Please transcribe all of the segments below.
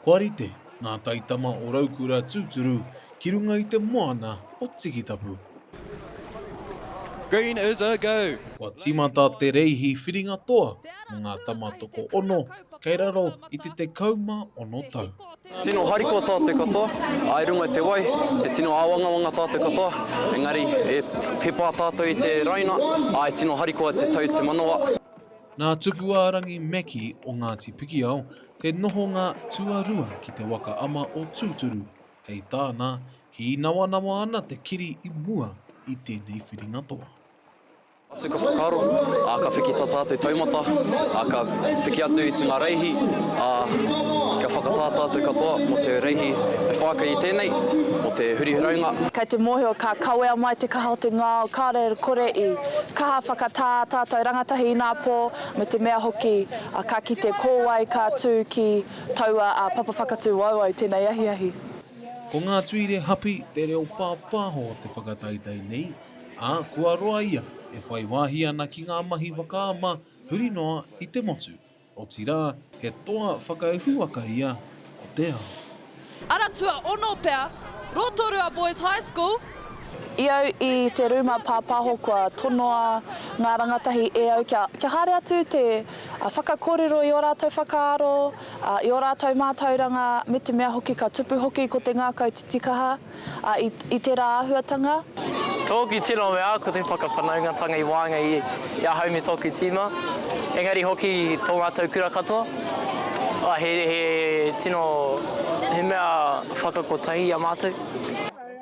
Kua rite ngā taitama o Raukura tūturu ki runga i te moana o Tikitapu. Green is a go! Kua tīmata te reihi whiringa toa mō ngā tama tokoono kei raro i te tekau mā ono tau. Tino harikoa tā te katoa, ā, i runga i te wai, he tino āwangawanga tā te katoa, engari, e, he pā tātou i te raina, ā, e tino harikoa te tau te manawa. Nā Tupuārangi Meki o Ngāti Pikiao te nohonga tuarua ki te waka ama o Tūturu, hei tāna, hīnawanawa ana te kiri i mua i tēnei whiringa toa. Atu ka whakaaro, ā, ka piki tata te taumata, ā, ka piki atu i te ngā reihi, ā, kia whakatā tātou katoa mō te reihi e whākai i tēnei, mō te hurihuraunga. Kei te mōhio ka kawea mai te kaha o te ngao, kāre kore i. Kaha whakatā tātou rangatahi inā pō, me te mea hoki ka kite ko wai ka tū ki taua papa whakatū wauau tēnei ahiahi. Ko ngā tuire hapi te reo pāpāho o te whakataetae nei, ā, kua roa ia e whai wāhi ana ki ngā mahi whakaama huri noa i te motu. Otirā, he toa whakauhuaka ia o te ao. Ara tuaono pea, Rotorua Boys High School. I au i te rūma pāpāho kua tonoa ngā rangatahi e au kia kia haere atu te whakakōrero i ō rātou whakaaro, i ō rātou mātauranga me te mea hoki ka tupu hoki ko te ngākau titikaha. A, i, i tera ahuatanga. Tōku tino mea ko te whakawhanaungatanga i waenga i, i ahau me tōku tīma, engari hoki tō mātou kura katoa. A, he, he tino, he mea whakakotahi i a mātou.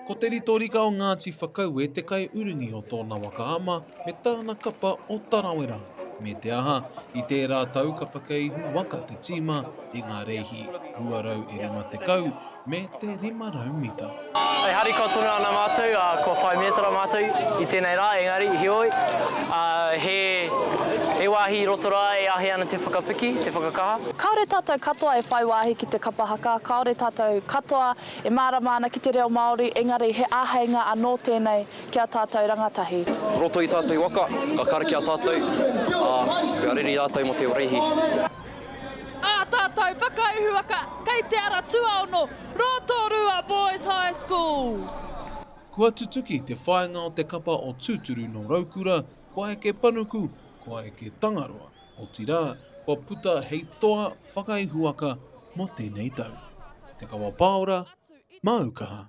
Ko Te Ritorika o Ngāti Whakaue te kaiurungi o tōna waka ama, me tāna kapa o Tarawera, me te aha, i tērā tau ka whakaihu waka te tīma i ngā reihi 250 me te 500 mita. E harikoa tonu ana mātou, ā, kua whai mētara mātou i tēnei rā, engari, heoi, ā, he, he wāhi i roto rā e āhei ana te whakapiki, te whakakaha. Kāore tātou katoa e whai wāhi ki te kapa haka, kāore tātou katoa e mārama ana ki te reo Māori, engari he āheinga anō tēnei, Ki a tātou rangatahi. Roto i tātou waka, ka karakia tātou, ā, kua rere rātou mō te Oreihi. Ā tātou whakaihuwaka kei Te Ara Tuaono, Rotorua Boys High School. Kua tutuki te whāinga o te kapa o Tūturu nō Raukura, kua eke panuku, kua eke Tangaroa, otirā, kua puta hei toa whakaihuwaka mō tēnei tau. Te Kawa Pāora, māu kaha.